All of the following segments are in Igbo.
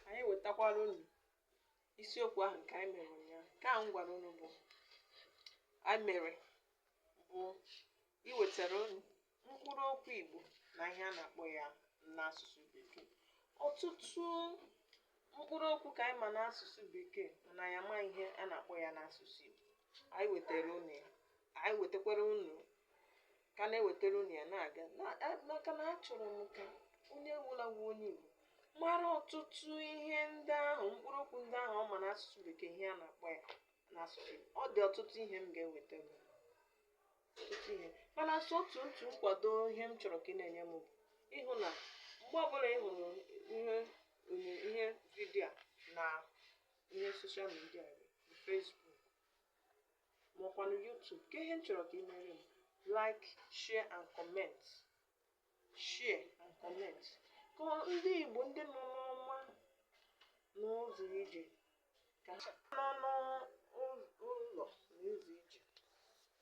anyị wetakwara unu isiokwu ahụ nke anyị mere ụnyaahụ nke ahụ m gwara unu bụ anyị mere bụ iwetara unu mkpụrụ okwu igbo na ihe a na-akpọ ya n'asụsụ bekee ọtụtụ mkpụrụ okwu ka anyị ma n'asụsụ bekee mana anyị amaghị ihe a na-akpọ ya n'asụsụ igbo anyị wetara unu ya anyị wetakwara unu ka a na-ewetara unu ya na-aga maka na achọrọ m ka onye ọbụla bụ onye Igbo mara ọtụtụ ihe ndị ahụ mkpụrụ okwu ndị ahụ ọ ma n'asụsụ bekee ihe a na-akpọ ya n'asụsụ Igbo. ọ dị ọtụtụ ihe m ga-eweta unu. ọtụtụ ihe mana sọ otu otu nkwado ihe m chọrọ ka ị na-enye m bụ ịhụ na mgbe ọbụla ị hụrụ ihe onye ihe video a na ihe social media Facebook ma ọkwanụ YouTube kee ihe m chọrọ ka ị mere m like share and comment share and comment ka ndị Igbo ndị nọ ma ọ bụ n'ụzọ ije ka ha nọ n'ụlọ n'ụzọ ije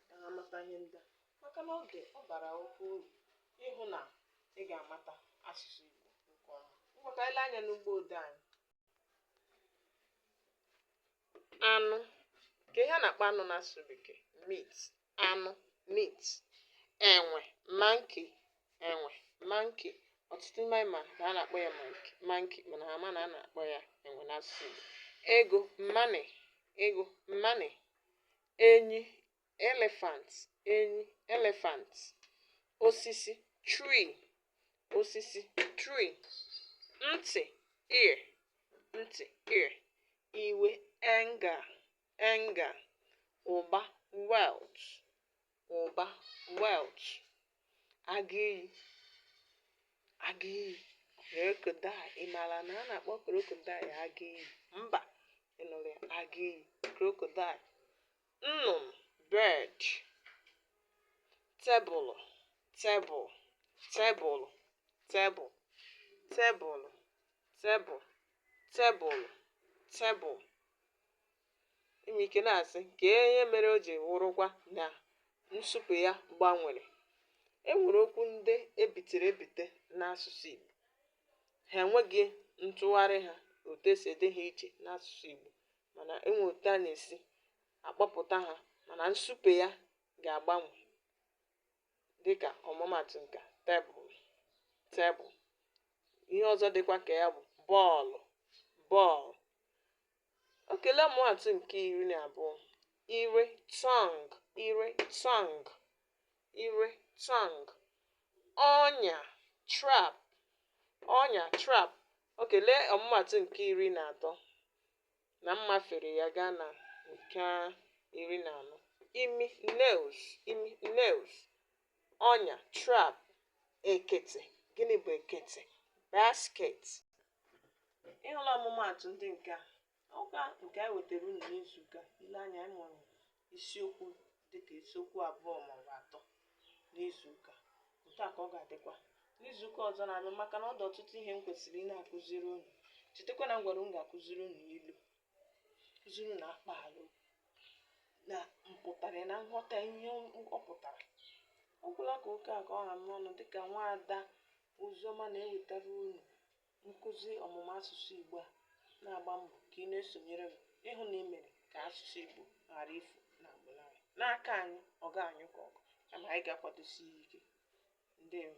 ka ha mata ihe ndị a maka na oge ọ bara oke uru ịhụ na ị ga-amata asụsụ Igbo nke ọma ngwa ka anyị lee anya n'ụgbọ odee anyị anụ kee ihe a na-akpọ anụ n'asụsụ bekee meat anụ meat enwe monkey enwe monkey ọtụtụ n'ime anyị ma na a na-akpọ ya monkey monkey mana ha amaghị na a na-akpọ ya enwe n'asụsụ Igbo ego money ego money enyi elephant enyi elephant osisi tree osisi tree ntị ear ntị ear iwe anger anger ụba wealth ụba wealth agụ iyi agụ iyi crocodile ị maara na a na-akpọ crocodile agụ iyi mba ị nụrụ ya agụ iyi crocodile nnụnụ bird tebụlụ table tebụlụ table tebụlụ table tebụlụ table i nwere ike na-asị kee ihe mere o ji wụrụkwa na nsụpe ya gbanwere e nwere okwu ndị e bitere ebite n'asụsụ Igbo ha enweghị ntụgharị ha otu e si ede ha iche n'asụsụ Igbo mana e nwee otu a na-esi akpọpụta ha mana nsupe ya ga-agbanwe dịka ọmụmatụ nke tebụl tebụl ihe ọzọ dịkwa ka ya bụ bọọlụ bọọlụ okay lee ọmụmatụ nke iri na abụọ ire tongue ire tongue ire tongue ọnya trap ọnya trap okay lee ọmụmatụ nke iri na atọ na m mafere ya gaa na nke iri na anọ imi nose imi nose ọnya trap ekete gịnị bụ ekete basket ị hụla ọmụmaatụ ndị nke a ọkwa nke anyị wetara unu n'izuụka i lee anya anyị mụrụ isiokwu dị ka isiokwu abụọ ma ọ bụ atọ n'izu ụka otu a ka ọ ga-adịkwa n'izu ụka ọzọ na-abịa maka na ọ dị ọtụtụ ihe m kwesịrị ịna-akụziri unu chetakwa na m gwara unu m ga-akụziri unu ilu kụziri unu akpaalaokwu na mpụtara ya na nghọta ihe ọ pụtara ọ gwụla ka oke a ka ọ ha m n'ọnụ dịka nwaada oziọma na-ewetara unu Nkụzi ọmụmụ asụsụ Igbo a na-agba mbọ ka ị na-esonyere m ịhụ na ị mere ka asụsụ Igbo ghara ifu n'agbụrụ anyị. N'aka anyị, ọ gaghị anyụ ka ọkụ kama anyị ga-akwadosi ya ike. Ndewo.